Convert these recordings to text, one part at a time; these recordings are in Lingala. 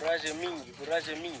Courage mingi, courage mingi.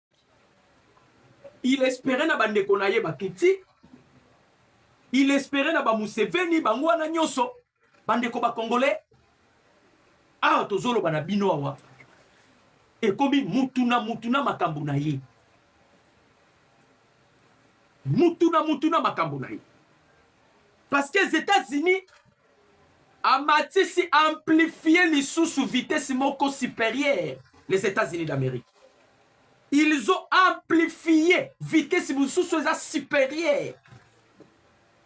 il espere na bandeko na ye batuti il espere na bamuseveni bango wana nyonso bandeko bakongole awa tozoloba na bino awa ekomi mutu na mutu na makambo na ye mutu na mutu na makambo na ye parce que etats-unis amatisi amplifier lisusu vitesse moko superieur les Etats-Unis d'Amerique ils ont amplifié vitesse mosusu eza superieur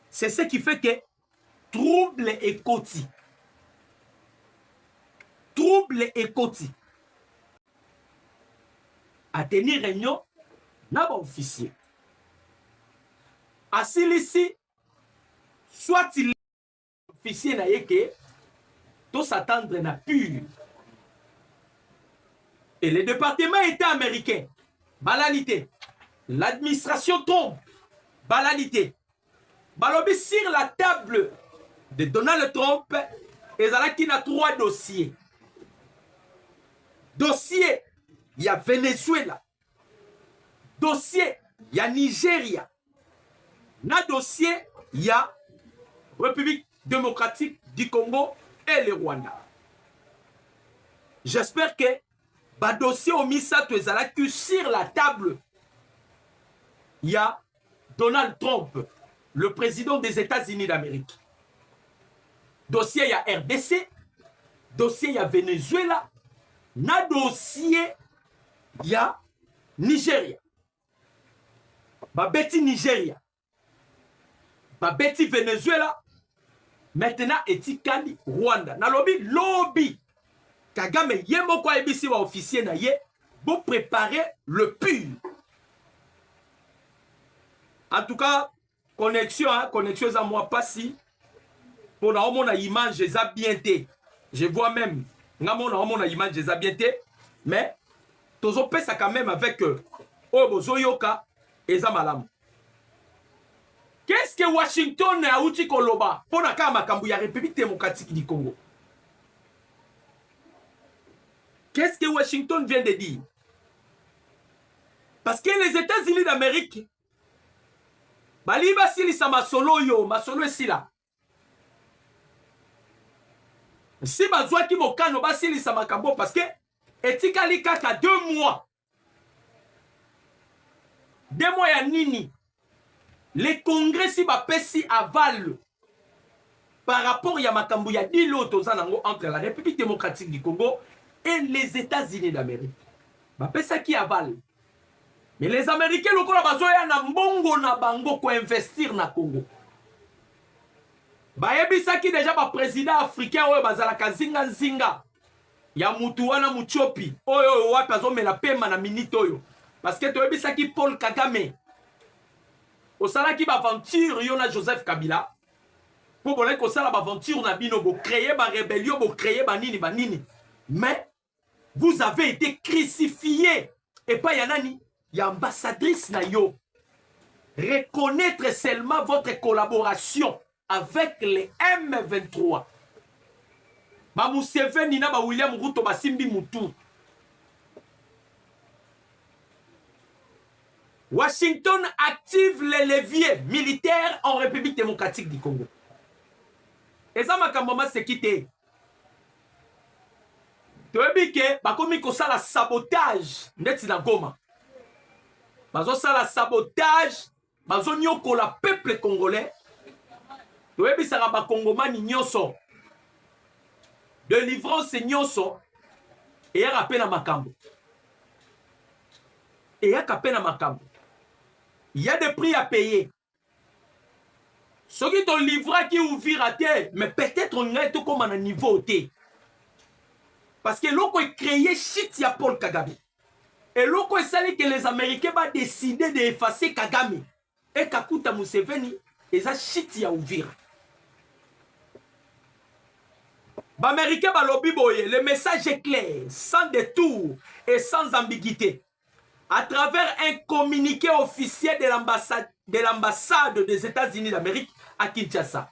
c'est ce qui fait que trouble ekoti trouble ekoti ateni réunion na baofficier asilisi soit il officier na ye ke to s'attendre na pure et le département état américain balali te l'administration trompe balali te balobi sur la table de donald trump ezalaki na trois dossier dossier ya venezuela dossier ya Nigeria na dossier ya République démocratique du Congo et le Rwanda. J'espère que ba dossiers au misato ezalaki sur la table ya Donald Trump, le president des Etats-Unis d'Amerique. Dossier ya RDC, dossier ya Venezuela, na dossier ya Nigeria. Babeti Nigeria, babeti Venezuela, maintenant etikali rwanda nalobi lobi kagame ye moko ayebisi baofficier na ye boprepare le pur en tout cas connexion hein? connexion eza mwa mpasi mpo na omona image eza bien te je vois même nga mona omona image eza bien te mais tozopesa quand même avec euh, oyo bozoyoka eza malamu Qu'est-ce que Washington auti koloba mpo na kaka makambo ya République démocratique du Congo? Qu'est-ce que Washington vient de dire? Parce que les États-Unis d'Amérique balingi basilisa masolo oyo masolo esila si bazwaki mokano basilisa makambo parce que etikali kaka deux mois de moi ya nini le congrès si bapesi aval par rapport ya makambo ya dile oyo toza nango entre la république démocratique du congo et les états-unis d'amérique bapesaki aval mais les américains lokola bazoya na mbongo na bango koinvestir na congo bayebisaki deja baprésident africain oyo bazalaka nzinganzinga ya mutu wana mutiopi oyo oyo wapi azomela pema na minute oyo parce que toyebisaki Paul Kagame osalaki ba aventure yo na Joseph Kabila mpo bolaki kosala ba aventure na bino bo créer ba rebellion bo créer ba nini ba nini mais vous avez été crucifié epai ya nani ya ambassadrice na yo reconnaître seulement votre collaboration avec les M23 ba Museveni na ba William Ruto basimbi mutu Washington active les leviers militaires en République démocratique du Congo. eza makambo maseki te toyebi ke bakomi kosala sabotage ndeti na goma bazosala sabotage bazonyokola peuple congolais toyebisaka bakongomani nyonso delivrance nyonso eyaka mpe na makambo eyaka mpe na makambo ya de prix ya paye soki tolivraki uvira te mais peut-être ngai tokóma na niveau te parce que eloko ecreye chite ya paul kagame Eloko esali que les Américains ba décider de effacer Kagame et Kakuta Museveni eza shit ya Uvira. Baméricains balobi boye, le message est clair, sans détour et sans ambiguïté. À travers un communiqué officiel de l'ambassade de l'ambassade des États-Unis d'Amérique à Kinshasa.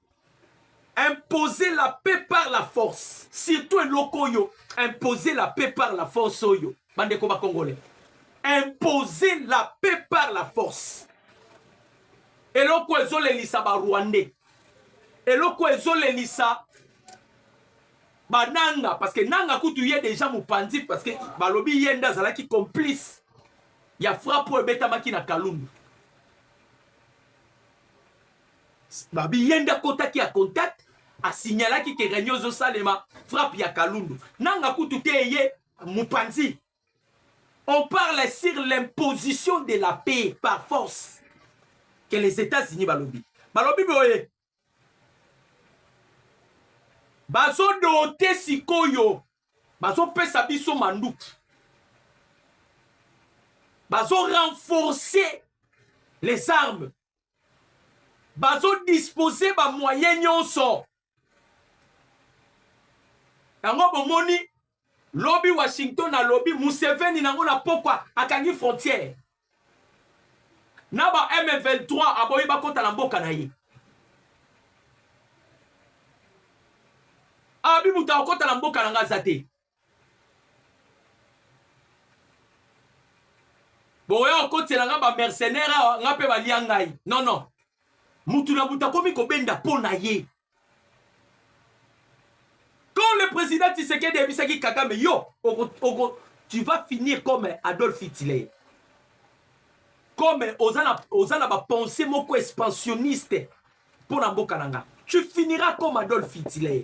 imposer la paix par la force surtout eloko oyo imposer la paix par la force oyo bandeko bakongole imposer la paix par la force eloko ezolelisa barwandais eloko ezolelisa bananga parce que nanga kutu ye deja mopanzi parce que balobi ye nde azalaki complice ya frappe oyo ebetamaki na kalundu Babi yende akotaki a contact a signalaki ke reunion ezo salema frappe ya Kalundu. Nanga kutu te eye mupanzi. On parle sur l'imposition de la paix par force que les États-Unis balobi. Balobi boye bazodote sikoyo bazopesa biso manduki bazorenforce les armes bazo dispose ba moyen nyonso yango bomoni lobi washington alobi museveni nango na pokwa akangi frontière na ba m23 aboyi bakota na mboka na ye abi moto akokota na mboka na nga aza te boya okotela nga ba mercenaire awa nga mpe balia ngai non non mutu na buta akomi kobenda mpo na ye quand le président tisekedi ayebisaki kagame yo oko, oko, tu vas finir comme adolphe hitler comme oza na, oza na bapense moko expansionniste mpo na mboka na nga tu finiras comme adolphe hitler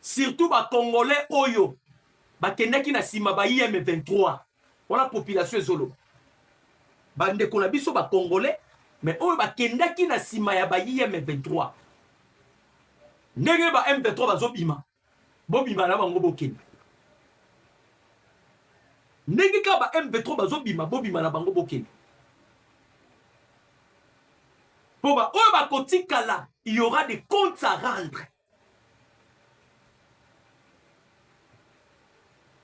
surtout ba congolais oyo bakendaki na sima ba IM 23 wana population ezoloba bandeko na biso ba congolais mais oyo bakendaki na sima ya ba IM 23 ndenge ba M 23 bazobima bobima na bango bokende ndenge kaka ba M 23 bazobima bobima na bango bokende mpo baoyo bakotikala il y aura des comptes à rendre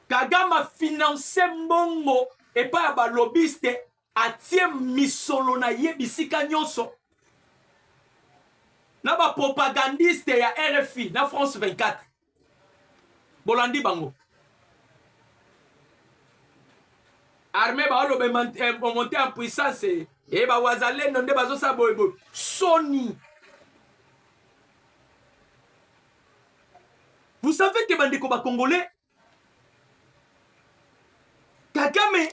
kagame afinanse mbongo epai ya balobiste atie misolo na ye bisika nyonso na bapropagandiste ya rfi na france 24 bolandi bango armée baoloba emonte eh, en puissance e eh, bawazalendo nde bazosala boyeboye soni vous savez ke bandeko bacongolais kagame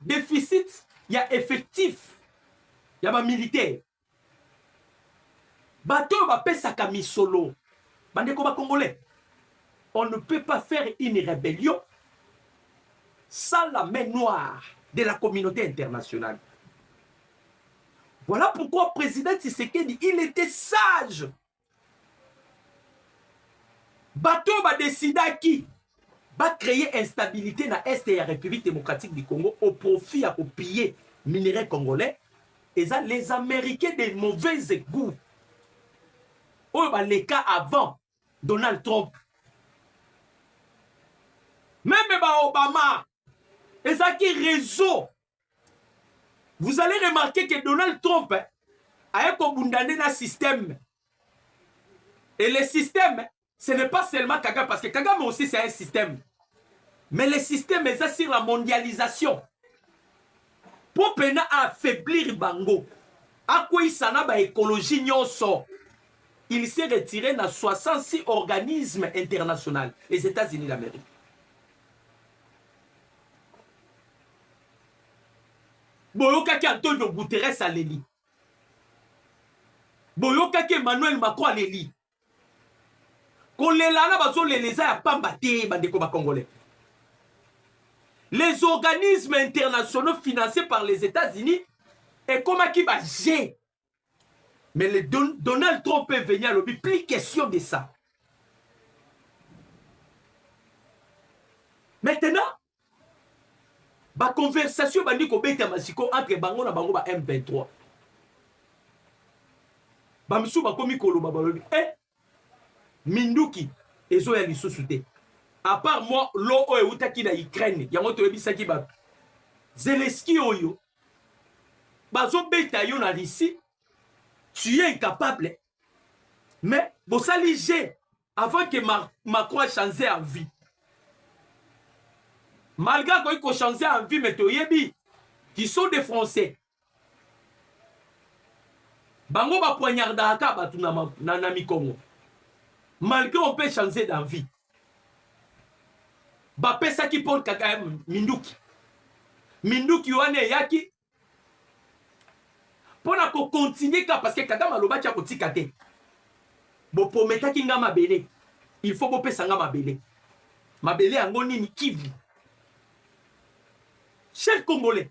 deficit ya effectif ya bamilitaire bato oyo bapesaka misolo bandeko bacongolais on ne peut pas faire une rébellion sans la main noire de la communauté internationale voilà pourquoi président tshisekedi il était sage Bato oyo ba decidaki ba creer instabilite na Est ya Republique democratique du Congo au profit ya ko piller minerais congolais eza les Americains de mauvaise gout oyo baleka avant Donald Trump meme ba Obama ezalaki reseau Vous allez remarquer que Donald Trump aye kobunda nde na système. Et le système, ce n'est pas seulement Kagame, parce que Kagame aussi c'est un système. Mais le système eza sur la mondialisation. Mpo pena affaiblir bango, akweyisa na baekologie nyonso. Il s'est retiré na 66 organismes internationaux, les États-Unis d'Amérique. boyokaki antonio guteres aleli boyokaki emmanuel macron aleli kolela wana bazolela eza ya pamba te bandeko bacongolais les organismes internationaux financés par les états-unis ekomaki baje Mais le Don Donald Trump est venu à l'objet, plus question de ça. Maintenant, ba conversation bandi kobeta masiko entre bango na bango ba M23. Ba misusu bakomi koloba balobi, eh, minduki ezoya lisusu te apart mwa lo oyo eutaki na ukraine yango toyebisaki bato zeleski oyo bazobeta yo na russie tu es incapable mais bosali je avant que Mar macron achange en vie malgré akoki kochange en vie mais toyebi qui sont des français bango ba poignardaka ka bato na, na, na mikongo malgré on peut changer d'envie bapesaki paul kaka minduki minduki wana eyaki mpo na kokontinue ka parce que kagame alobaki akotika te boprometaki nga mabele il faut bopesa nga mabele mabele yango nini kivu cher congolais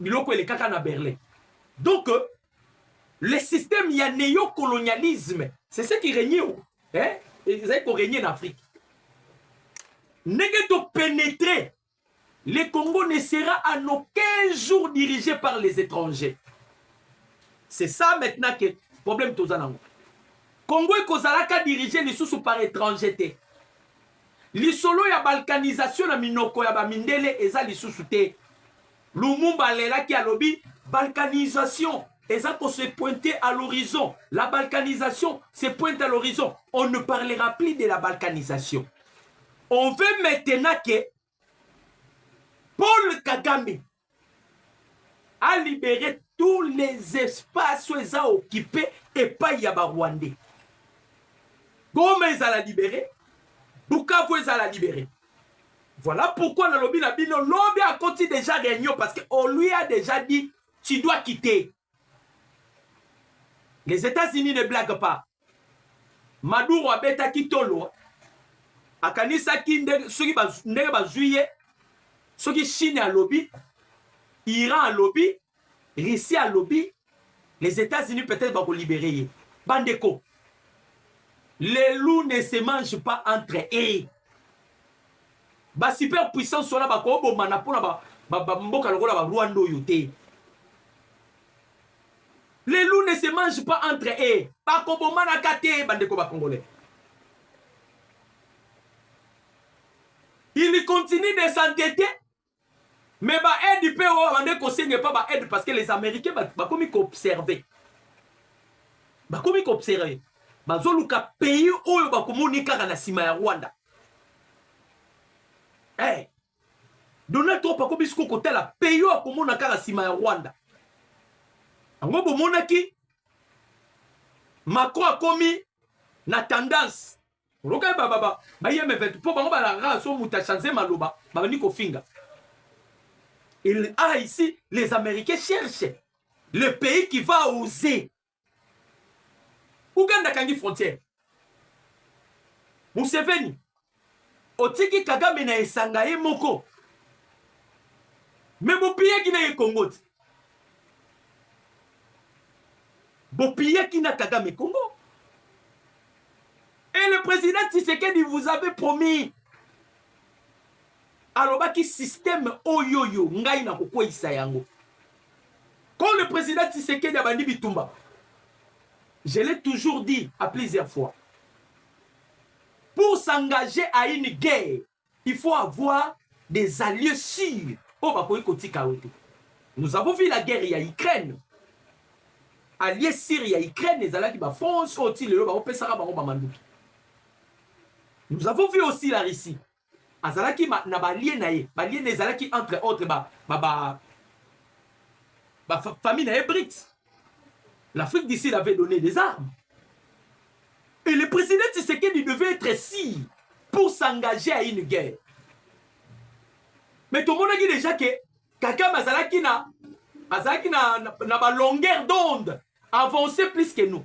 biloko elekaka na berlin donc euh, le système ya neocolonialisme c'est ce qui regne hein? ezali koregne na afrique ndenge topénétre le congo ne sera à nos 15 jours dirigé par les étrangers c'est ça maintenant que problème toza nango congo ekozalaka dirige lisusu par étranger te lisolo ya balkanisation na minoko ya bamindele eza lisusu te Lumumba alelaki alobi balkanisation eza ko se pointe à l'horizon la balkanisation se pointe à l'horizon on ne parlera plus de la balkanisation on veut maintenant que paul kagame a libéré tous les espaces oyo eza okipe epai ya barwandais goma ezala libere bukavu ezala libere Voilà pourquoi nalobi na bino lobi akoti déjà réunion parce que on lui a déjà dit tu dois quitter. Les États-Unis ne blaguent pas. Maduro abetaki tolo akanisaki ndenge soki ndenge bazwi ye soki Chine alobi Iran alobi Russie alobi les Etats-Unis peut-être bako libérer ye. Bandeko, les loups ne se mangent pas entre eux. Ba super puissance wana bako bomana pona ba, ba, ba mboka lokola ba Rwanda oyo te. Les loups ne se mangent pas entre eux. Bako bomana ka te bandeko ba congolais. Il continue de s'entêter Mais ba aide pe oyo bande kosenga epa ba aide parce que les américains bakomi ba koobserve bakomi koobserve bazoluka pays oyo bakomoni kaka na nsima ya rwanda hey, eh, donald trump akomi siko kotala pays oyo akomona kaka nsima ya rwanda yango bomonaki macron akomi na tendance Roka ba ba ba ba yeme vetu po bango balara so muta chanze maloba babandi kofinga. Il a ici les Américains cherchent le pays qui va oser. Ouganda kangi frontière. Museveni otiki Kagame na esanga ye moko. Mais bopiyaki na ye Congo te. bopiyaki na kagame congo et le président tisekedi vous avez promis alobaki système oyoyo ngai na kokweisa yango quand le président tisekedi abandi bitumba je l'ai toujours dit à plusieurs fois pour s'engager à une guerre Il faut avoir des alliés sûrs oyo bakoki kotika yo te. Nous avons vu la guerre ya Ukraine. Allié sûr ya Ukraine ezalaki ba France oyo ti lelo baopesaka bango ba manduki. Nous avons vu aussi la Russie. Azalaki ma, na balie na ye. Balie na ezalaki entre autres ba ba ba, ba famille na ye Brits. L'Afrique du Sud avait donné des armes. Et le président Tshisekedi devait être si pour s'engager à une guerre. Mais tout le monde a dit déjà que Kakam Azalaki na, Azalaki na, na, na ba longueur d'onde avancé plus que nous.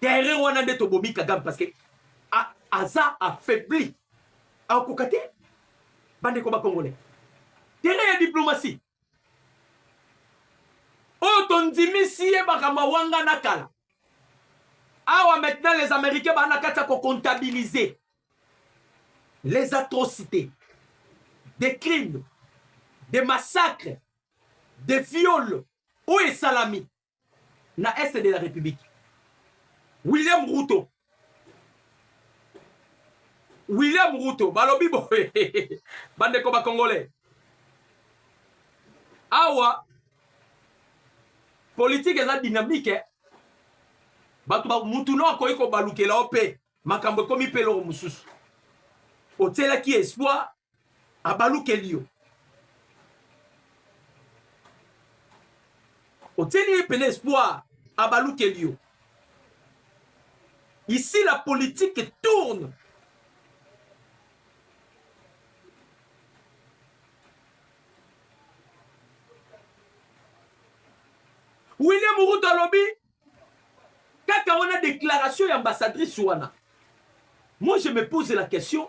terrain wana nde tobomi kagame parce que aza affaibli akokoka te bandeko bakongole terrain ya diplomatie oyo tondimisi ye makambo wanga na kala awa maintenant les américains baa na kati ya kocomptabilise les atrocités des crimes des massacres des viols oyo esalami na est de la republique william ruto william ruto balobi boye bandeko bacongolais awa politike eza dynamike bato mutu no akoki kobalukela yo mpe makambo ekomi mpe eloko mosusu otielaki espoir abalukeli yo otieli ye pene espoir abalukeli yo ici la politique tourne william ruto alobi kaka wana déclaration ya ambassadrice wana moi je me pose la question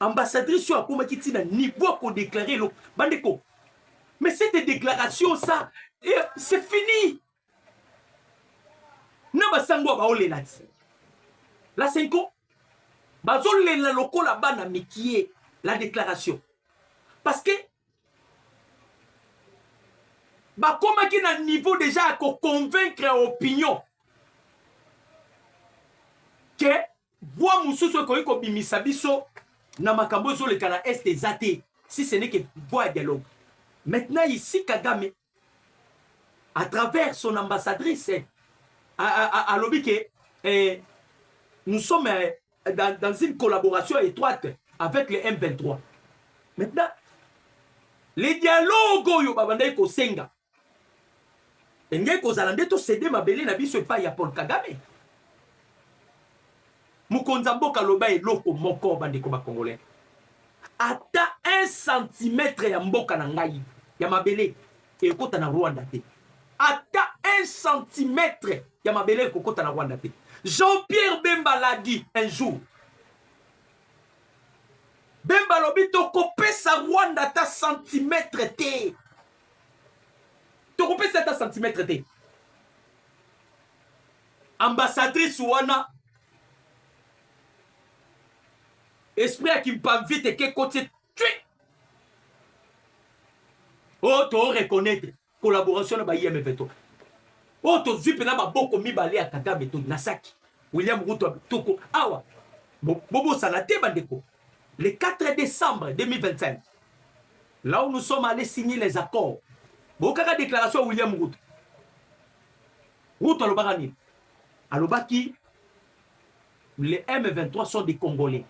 ambassadrice oyo akomaki ntina niveau ya kodeklare eloko bandeko mais cette déclaration ça eh, c'est fini na basango ya baolela ti la senko bazolela lokola bana mikie la déclaration parce que bakomaki na niveau deja ya koconvaincre opinion ke voix mosusu ekoki kobimisa biso na makambo ezoleka na est eza te si ce n'est que voix ya dialogue maintenant ici kagame à travers son ambassadrice alobi ke eh, nous sommes eh, dans, dans une collaboration étroite avec les M23 maintenant le dialogue oyo babandaki kosenga engei kozala nde tosede mabele na biso epai ya paul kagame Mokonzi ya mboka aloba eloko moko bandeko ba Congolais. Ata 1 cm ya mboka na ngai ya mabele ekota na Rwanda te. Ata 1 cm ya mabele ekokota na Rwanda te. Jean-Pierre Bemba l'a dit un jour. Bemba lobi tokopesa Rwanda ata centimetre te. Tokopesa ata centimetre te. ambassadrice wana esprit ya kimpamvite ke kotie tui oyo oh, to reconnaître collaboration na ba imf to oyo oh, tozwi mpena maboko mibale ya kagame to na saki william ruto toko awa bobosana te bandeko le 4 décembre 2025 là où nous sommes allés signer les accords bokaka déclaration ya william ruto Ruto alobaka nini? Alobaki les M23 sont des Congolais.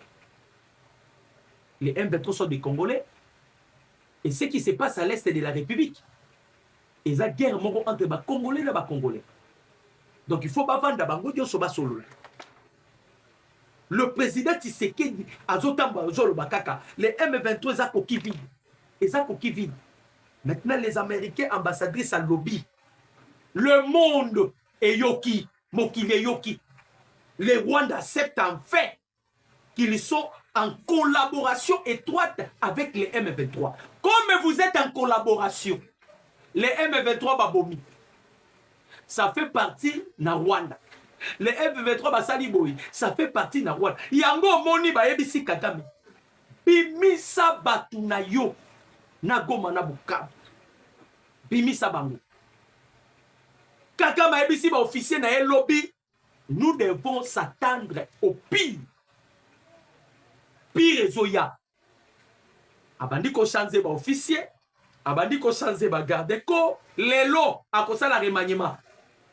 Les M23 sont des Congolais. Et ce qui se passe à l'est de la République, et la guerre moko entre les Congolais et les Congolais. Donc il faut pas vendre bango nyoso basolola. Le président Tshisekedi azotamba azoloba kaka les M23 eza koki vide. Eza koki vide. Maintenant les Américains ambassadrice à lobby Le monde eyoki, mokili eyoki. Les Rwandais acceptent en fait qu'ils sont en collaboration étroite avec les M23. Comme vous êtes en collaboration, les M23 babomi. Ça fait partie na Rwanda. Les M23 basali boyi, ça fait partie na Rwanda. Yango moni bayebisi Kagame. Bimisa batu na yo na Goma na Bukavu. Bimisa bango. Kagame ayebisi ba officier na ye lobi nous devons s'attendre au pire. Pire ezoya. Abandi ko changer ba officier, abandi ko changer ba garde corps, lelo akosala remaniement.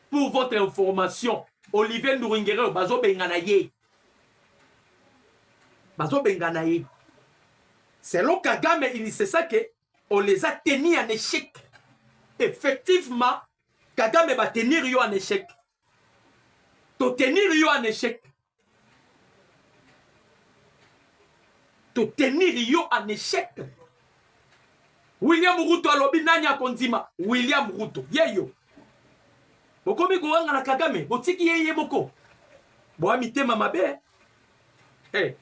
Pour votre information, Olivier Nduringere bazo bengana ye. Bazo bengana ye. Selon Kagame, il ne sait ça que on les a tenus en échec effectivement kagame batenir yo en échec totenir yo en échec totenir yo en échec william ruto alobi nani akondima william ruto ye yo bokomi kowanga na kagame botiki ye ye moko boya mitema mabe hey. Eh.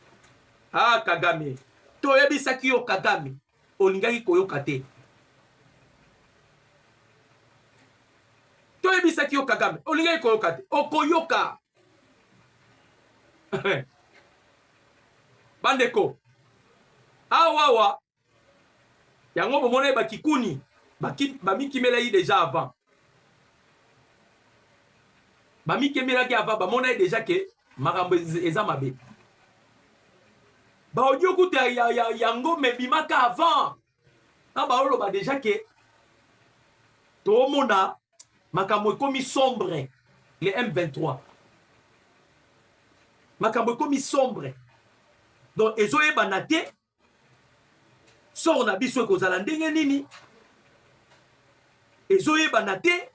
ah kagame toyebisaki yo kagame Olingaki koyoka te. Toyebisaki yo Kagame, olingaki koyoka te. Okoyoka. Bandeko, awawa yango bomonaki bakikuni bamikimelaki deja avant bamikembelaki ava bamona ye deja ke makambo eza mabe baaudio kutu ya, ya, ya, ya ngombe ebimaka avant na baoloba deja ke toomona makambo ekomi sombre le m23 makambo ekomi sombre donc ezoyebana te sort na biso ekozala ndenge nini ezoyebana te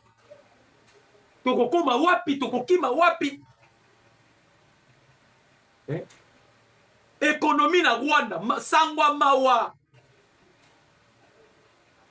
tokokoma wapi tokokima wapi eh? ekonomi na rwanda sangwa mawa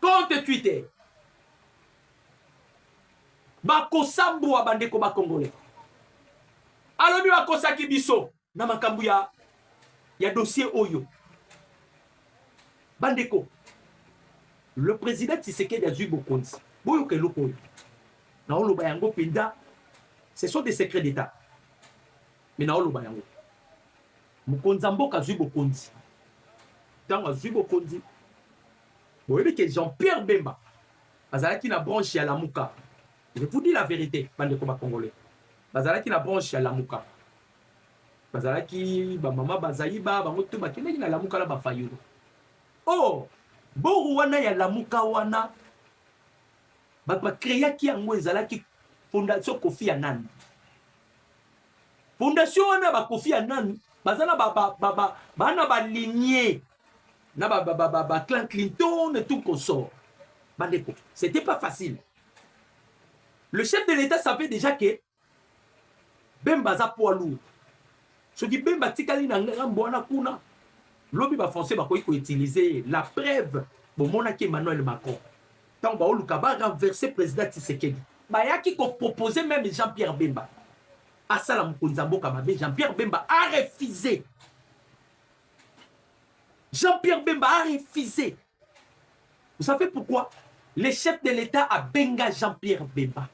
compte twitter bakosambwa bandeko bakongole alobi bakosaki biso na makambo ya, ya dossier oyo bandeko le président tisekedi azwi bokonzi boyoka eloko oyo naoloba yango mpenza ce sont des secrets d'état Mais na oloba yango. Mokonzi ya mboka azui bokonzi. Tango azui bokonzi, boyebi ke Jean-Pierre Bemba azalaki na branche ya Lamuka. Je vous dis la verite, bandeko ba Congolais. Bazalaki na branche ya Lamuka. Bazalaki ba mama Bazaiba, bango tout bakendaki na Lamuka na ba Fayulu. Oh, boru wana ya Lamuka wana bato bakreaki yango ezalaki fondation kofi ya nani fondation wana bakofi ya nani baza na bana balinie na baclan clinton et tout consort bandeko c'était pas facile le chef de l'état savait déjà que bemba aza poids lourd soki bemba atikali na ngambo wana kuna lobi bafrançais bakoki koutilize ye la preuve bomonaki emmanuel macron ntango baoluka barenverse président tisekedi bayaki kopropose meme jean pierre bemba asala mokonzi ya mboka mabe jean pierre bemba arefuse jean pierre bemba arefuse vous savez pourquoi le chef de l'état abenga jean pierre bemba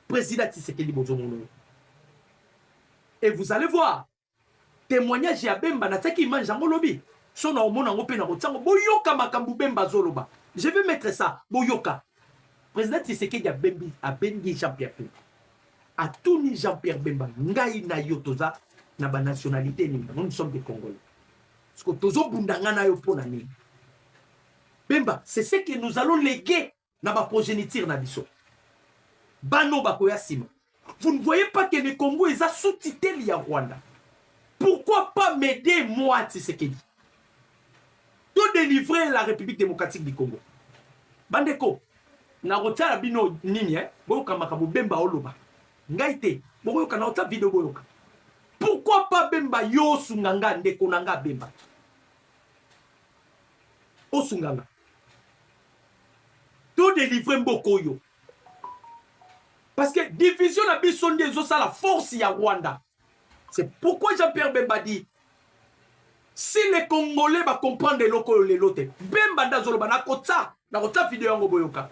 président tisekedi bozomona et vous allez voir témoignage ya bemba natiaki image yango lobi so na omona yango mpe nakotia yango boyoka makambo bemba azoloba je vais mettre ça boyoka président tisekedi abembi abengi jean pierre bemba atuni jean pierre bemba ngai na yo toza na banationalité nini yango nous sommes des congolais siko tozobunda ngai na yo mpo na nini bemba c'est ce que nous allons léguer na ba progeniture na biso bano bakoya nsima vous ne voyez pas que le congo eza sous tutelle ya rwanda pourquoi pas m'aider moi tshisekedi to délivrer la république démocratique du congo bandeko nakotyala bino nini eh? boyoka makambo bemba oloba ngai te bokoyoka naotya video boyoka pourquoi pas bemba yo osunga nga ndeko na nga bemba osunga nga To delivrer mboka oyo. Parce que division na biso nde ezosala force ya Rwanda. C'est pourquoi Jean-Pierre Bemba dit si les Congolais ba comprendre eloko oyo lelo te. Bemba nda zoloba na kotsa na kotsa video yango boyoka.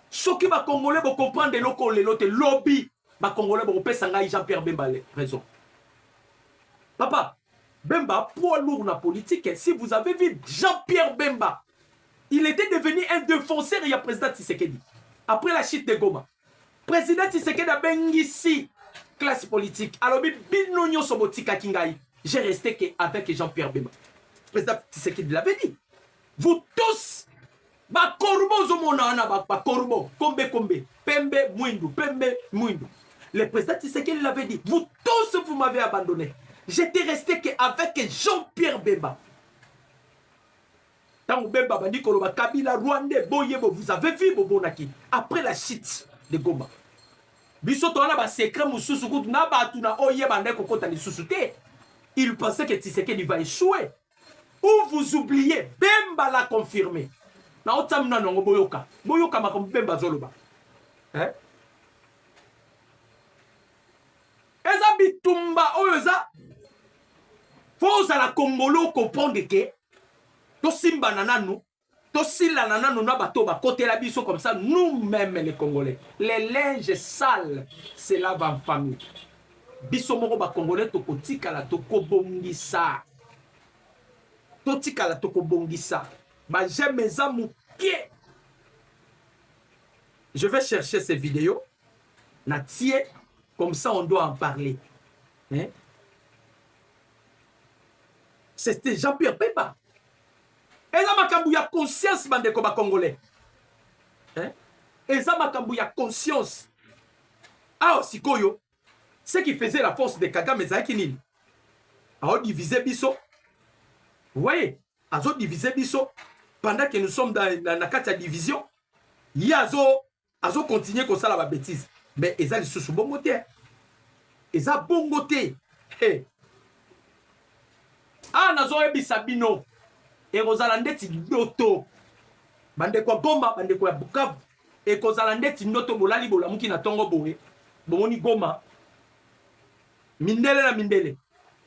Soki ba Congolais bo comprendre eloko oyo lelo te lobi ba congolais boko pesa ngai Jean Pierre Bemba le raison papa Bemba poids lourd na politique si vous avez vu Jean Pierre Bemba il était devenu un défenseur ya président Tshisekedi après la chute de Goma président Tshisekedi abengisi classe politique alobi bino nyonso botikaki ngai j'ai resté que avec Jean Pierre Bemba président Tshisekedi l'avait dit vous tous Ba corbeau ozomona wana ba, ba corbeau kombe kombe pembe mwindu pembe mwindu. Le président Tshisekedi l'avait dit, vous tous vous m'avez abandonné. J'étais resté que avec Jean-Pierre Bemba. Tango Bemba bandi koloba Kabila Rwandais boyebo vous avez vu bobonaki après la chute de Goma. Biso toana ba secret mususu kutu na batu na oye bande kokota lisusu te. Il pensait que Tshisekedi va échouer. Ou vous oubliez, Bemba l'a confirmé. Na otsa muna nango boyoka. Boyoka makambo Bemba azoloba. Hein? Eza bitumba oyo eza fo ozala kongolo comprendre ke tosimbana nanu tosilana nanu na bato bakotela biso comme ça nous même les congolais les linges sales se lave en famille biso moko ba congolais tokotikala tokobongisa totikala tokobongisa ba j'aime eza moke je vais chercher ces vidéos na tie comme ça on doit en parler hein? c'était Jean-Pierre Pemba eza makambo ya conscience bandeko ba congolais eh? eza makambo ya conscience awa sikoyo ce qui faisait la force de kagame ezalaki nini aodivise biso voye azodivise biso pendant que nous sommes dans, na, na kati ya division ye azo azo continuer kosala ba bêtises mais eza lisusu bongo te eza bongo te hey. awa ah, nazoyebisa bino ekozala ndeti ndoto bandeko ya goma bandeko ya bukavu ekozala ndeti ndoto bolali bolamuki na ntongo boye bomoni goma mindele na mindele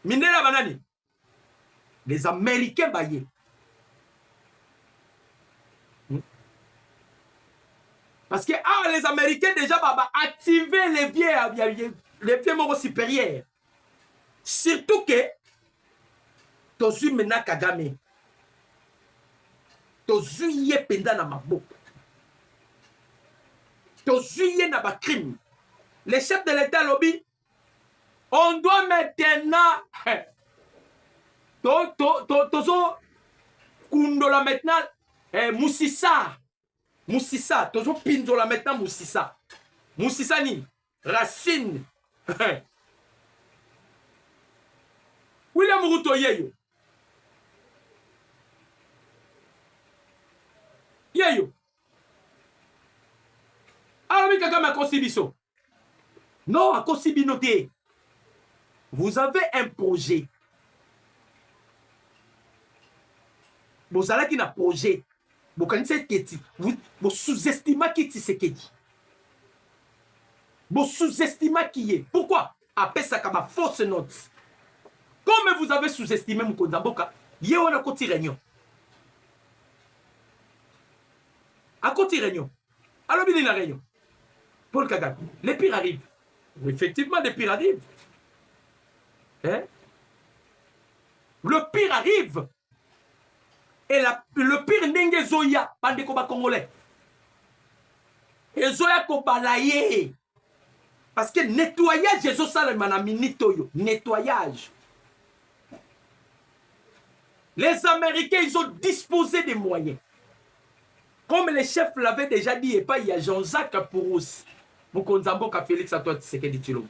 mindele ya banani les américains baye hmm? parce que awa ah, les américains déjà baba active les vieux ya les vieux moko supérieur surtout que tozwi mena kagame tozwi ye mpenza na maboko tozwi ye na bacrime le chef de l'etat alobi on doit maintenant to to to tozo kundola maintenant eh, musisa musisa tozo pindola maintenant musisa musisa nini racine william ruto yeyo yeyo alobi kaka makosi biso Non, akosi bino te. Vous avez un projet. bozalaki na projet bokanisa eketi bosous-estimaki tisekedi bosous-estimaki ye pourquoi apesaka ba fausse note comme vous avez sous-estimé mokonzi ya mboka ye wana akoti réunion akoti réunion alobi nini na réunion paul kagame le pire arrive effectivement le pire arrive hein? le pire arrive et la, le pire ndenge ezoya bandeko bacongolais ezoya kobala ye parce que nettoyage ezosalema na minute oyo nettoyage les américains ils ont disposé des moyens comme le chef l'avait déjà dit epai ya jean-jacques pourousi mokonzi ya mboka félix antoine tshisekedi tshilombo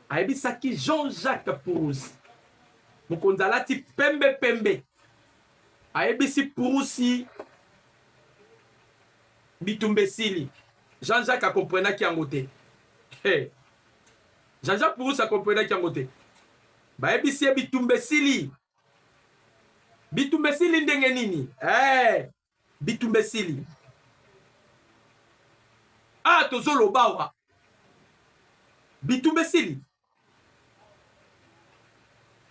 ayebisaki jean-jacques pourousi mokonzi alati pembe pembe ayebisi purusi bitumba esili Jean Jacques a comprenaki yango te. Hey. Jean Jacques Purus a comprenaki yango te. Bayebisi ye bitumba esili. Bitumba esili ndenge nini? Hey. Bitumba esili. Ah, tozoloba wa. Bitumba esili.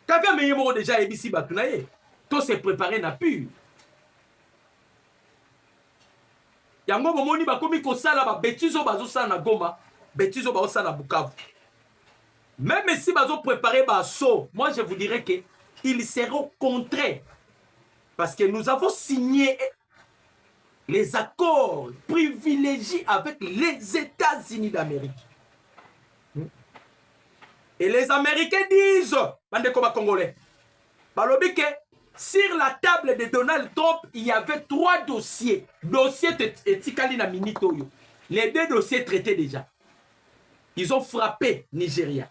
kagame ye moko deja ayebisi bato na ye to se prepare na pure yango bomoni bakomi kosala babetise oyo bazosala na goma betise oyo bazosala na bukavu même esi bazoprepare baso moi je vous dirais que il serait au contraire parce que nous avons signé les accords privilégiés avec les États-Unis d'Amérique. hmm. et les américains disent bandeko ba congolais balobi ke sur la table de donald trump il y avait trois dossiers dossier etikali na minute oyo les deux dossiers traités déjà ils ont frappé nigeria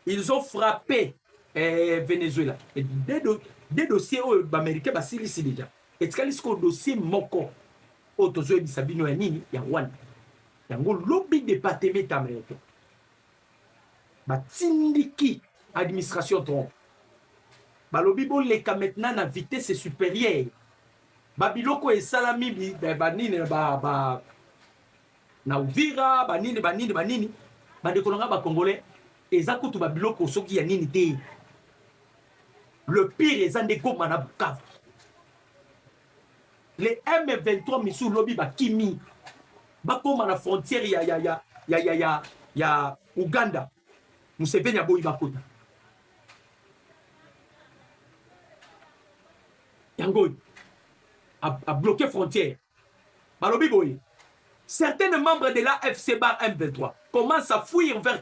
ils ont frappé eh, venezuela et deux, do, deux dossiers oyo baaméricain basilisi déjà etikali sikoyo dossier moko oyo tozoyebisa bino ya nini ya rwanda Yango lobi departement americain batindiki administration Trump balobi boleka maintenant na vitesse supérieure babiloko esalami banini ba, ba, na uvira banini banini banini bandeko na ngai bacongolais eza kutu babiloko soki ya nini te le pire eza nde goma na bukavu Les M23 misu lobi ba kimi bakoma na frontière ya ya ya ya ya ya, ya Ouganda Museveni aboyi bakota yango a bloqué frontière balobi boye certains membres de la FC bar M23 commencent à fuir vers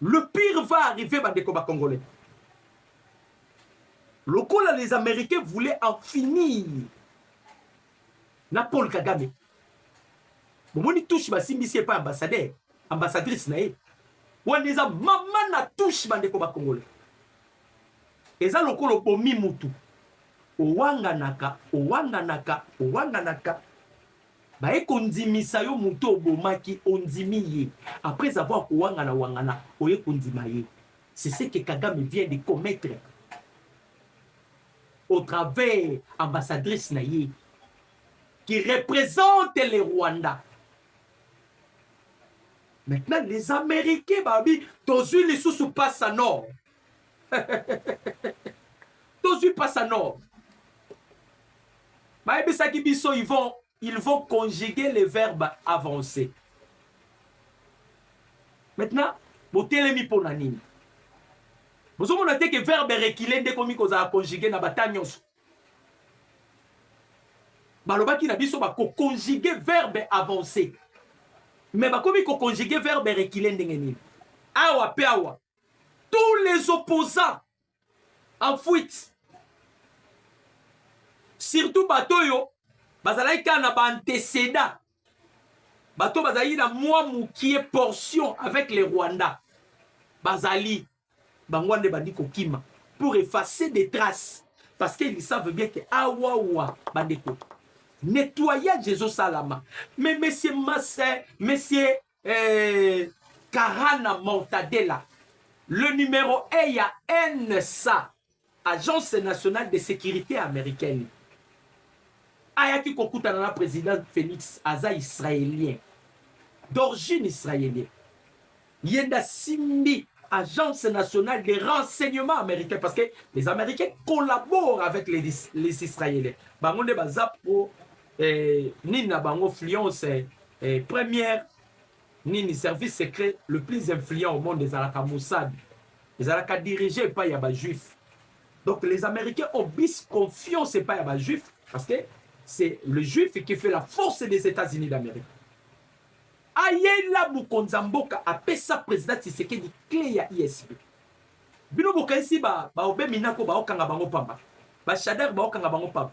Le pire va arriver bandeko ba congolais. Lokola les américains voulaient en finir na Paul Kagame. Bomoni touche basimbisi epai ambassadeur, ambassadrice na ye. Wana eza mama na touche bandeko ba congolais. Eza lokola obomi mutu. Owanganaka, owanganaka, owanganaka. baye kondimisa yo moto obomaki ondimi ye après avoir kowangana wangana oye kondima ye c'est ce que kagame vient de commettre au travers ambassadrice na ye qui représente le rwanda maintenant les américains babi tozwi lisusu pasa nord tozwi pasa nord bayebisaki biso ils vont, ils vont conjuguer les verbes avancés maintenant botelemi mpo na nini bozomona te ke verbe rekile nde ekomi kozala conjugue na bata nyonso balobaki na biso bakokonjuge verbe avancé me bakomi kokonjuge verbe rekile ndenge nini awa mpe awa tous les opposants en fuite surtout bato oyo bazalaki kaka na baanteceda bato oyo bazalaki na mwa mokie portion avec le rwanda bazali bango wana nde bandi kokima pour effacer des traces parce qu'ils savent bien que awawa ah, bandeko nettoyage ezosalama mais monsieur mase monsieur eh, Karana Mortadela, le numéro 1 ya NSA, Agence nationale de sécurité américaine. Ayaki kokutana na président Félix aza israélien d'origine israélien. Yenda Simbi, agence nationale des renseignements américains parce que les américains collaborent avec les, les israéliens. Bango nde baza pro eh, nini na bango fluence eh, eh, première nini service secret le plus influent au monde ezalaka mossad ezalaka dirige epai ya bajuif donc les américains ont bis confiance epai ya bajuif parce que c'est le juif qui fait la force des états-unis d'amérique ayela mokonzi ya mboka apesa président tisekedi cle ya isb bino bokanisi baobe ba minako baokanga bango pamba bashadar baokanga bango pamba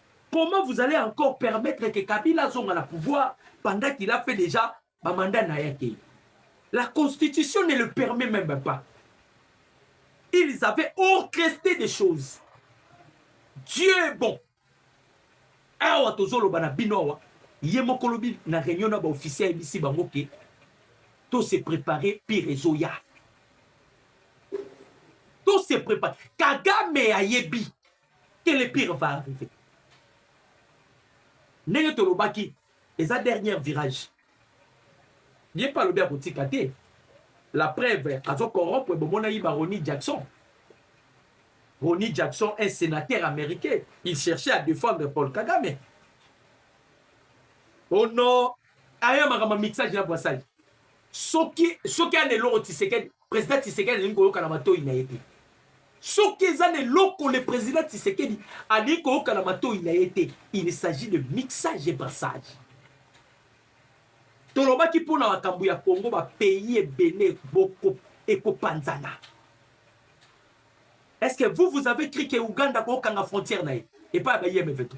Comment vous allez encore permettre que Kabila azonga na pouvoir pendant qu'il a fait déjà ba mandat na yake? La constitution ne le permet même pas. Ils avaient orchestré des choses. Dieu est bon. Awa tozoloba na bino awa ye moko lobi na réunion na ba officier ayebisi bango ke to se préparer pire ezoya. To se préparer. Kagame ayebi que le pire va arriver ndenge tolobaki eza dernière virage ye mpe alobi akotika te la preuve azo corrompre bomonaki ba Ronnie Jackson Ronnie Jackson un sénateur américain il cherchait à défendre Paul Kagame au nom aya makambo ya mixage na bwasali soki soki ana eloko tisekedi président tisekedi alingi koyoka na matoi na ye te soki eza na eloko le président tisekedi alingi koyoka na matoi na ye te il s'agit de mixage et brassage tolobaki mpo na makambo ya congo bapays ebele boko ekopanzana est ce que vous vous avez cri ke uganda kokanga frontière na ye epai ya ba imf to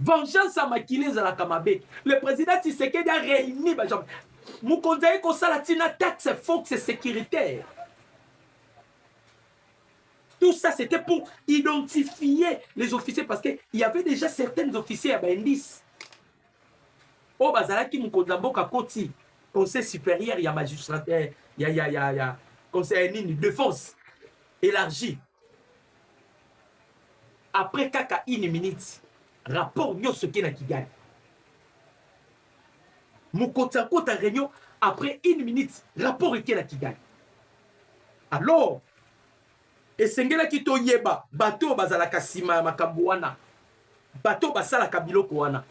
vengeance ya makili ezalaka mabe le président tisekedi a réuni bajambe mokonzi aye kosala ntina taxe foxe sécuritaire tout ça c'était pour identifier les officiers parce qu'il y avait déjà certains officiers ya baindice oyo bazalaki mokonzi ya mboka koti conseil supérieur ya magistrat ya, ya, ya, ya conseil nini défense élargie après kaka une minute rapport nyonso eke na kigali mokoti akota réunion après une minute rapport eke na kigali alors esengelaki toyeba bato oyo bazalaka nsima ya makambo wana bato basalaka biloko wana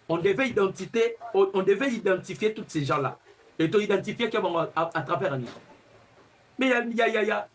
on devait identité on, on devait identifier toutes ces gens là et to identifier ke bango à, à travers ani mais ya ya ya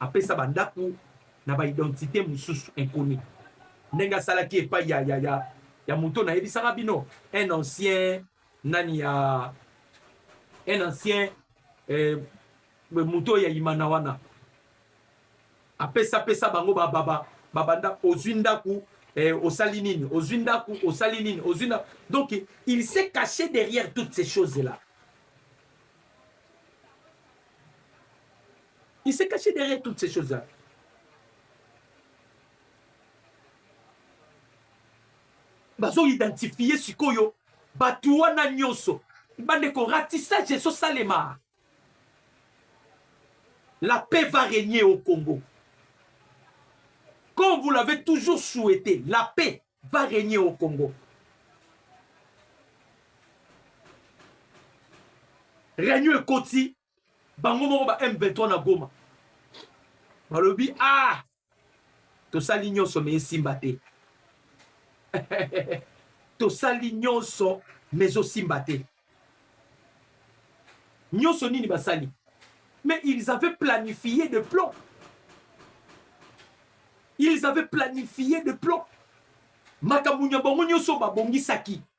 apesa bandako na ba identite mosusu inconnu ndenge asalaki epai ya, ya, ya, ya moto nayebisaka bino un ancien nani ya un ancien eh, moto ya imana wana apesa pesa bango bababa babanda ozwi ndako eh, osali nini ozwi ndako osali nini ozwi ndako donc il s'est caché derrière toutes ces choses là Il s'est caché derrière toutes ces choses-là. bazo identifie sikoyo bato wana nyonso bandeko ratissage ezosalema la paix va régner au congo comme vous l'avez toujours souhaité la paix va régner au congo réunion ekoti bango moko ba M23 na Goma balobi ah tosali nyonso me esimba te tosali nyonso me ezosimba te nyonso nini basali mais ils avaient planifié de plan ils avaient planifié de plan makambo nya bango nyonso babongisaki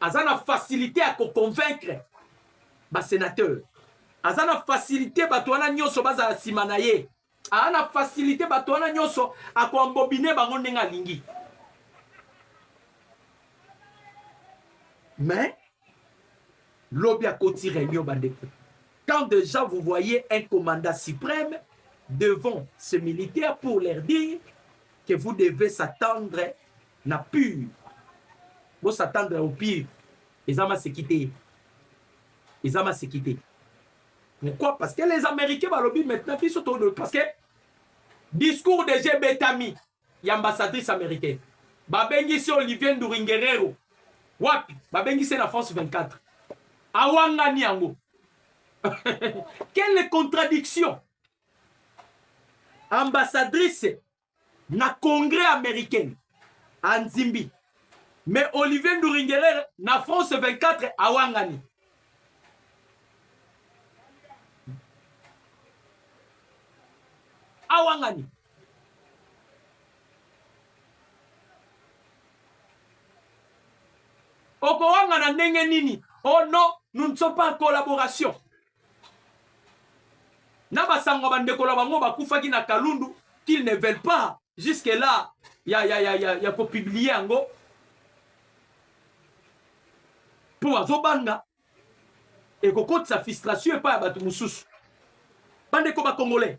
Aza na facilite ya ko convaincre ba senateurs. Aza na facilite bato wana nyonso bazala nsima na ye. Aza na facilite bato wana nyonso akoambobine bango ndenge alingi. Mais lobi akoti reunion bandeko. Quand déjà vous voyez un commandant suprême devant ces militaires pour leur dire que vous devez s'attendre na pure bo s'attendre au pire eza maseki te eza maseki te pourquoi parce que les américains balobi maintenant biso to parce que discours de jeu betami ya ambassadrice américaine babengisi olivier nduringerero wapi babengisi na france 24 awangani yango quelle contradiction ambassadrice na congrès américain anzimbi mais olivier nduringelere na france 24 awangani awangani okowangana ndenge nini oh non nous ne sommes pas en collaboration na basango ya bandeko na bango bakufaki na kalundu qu'ils ne veulent pas jusque là ya, ya, ya, ya, ya kopublie yango mpo bazobanga ekokotisa frustration epai ya bato mosusu bandeko bakongolais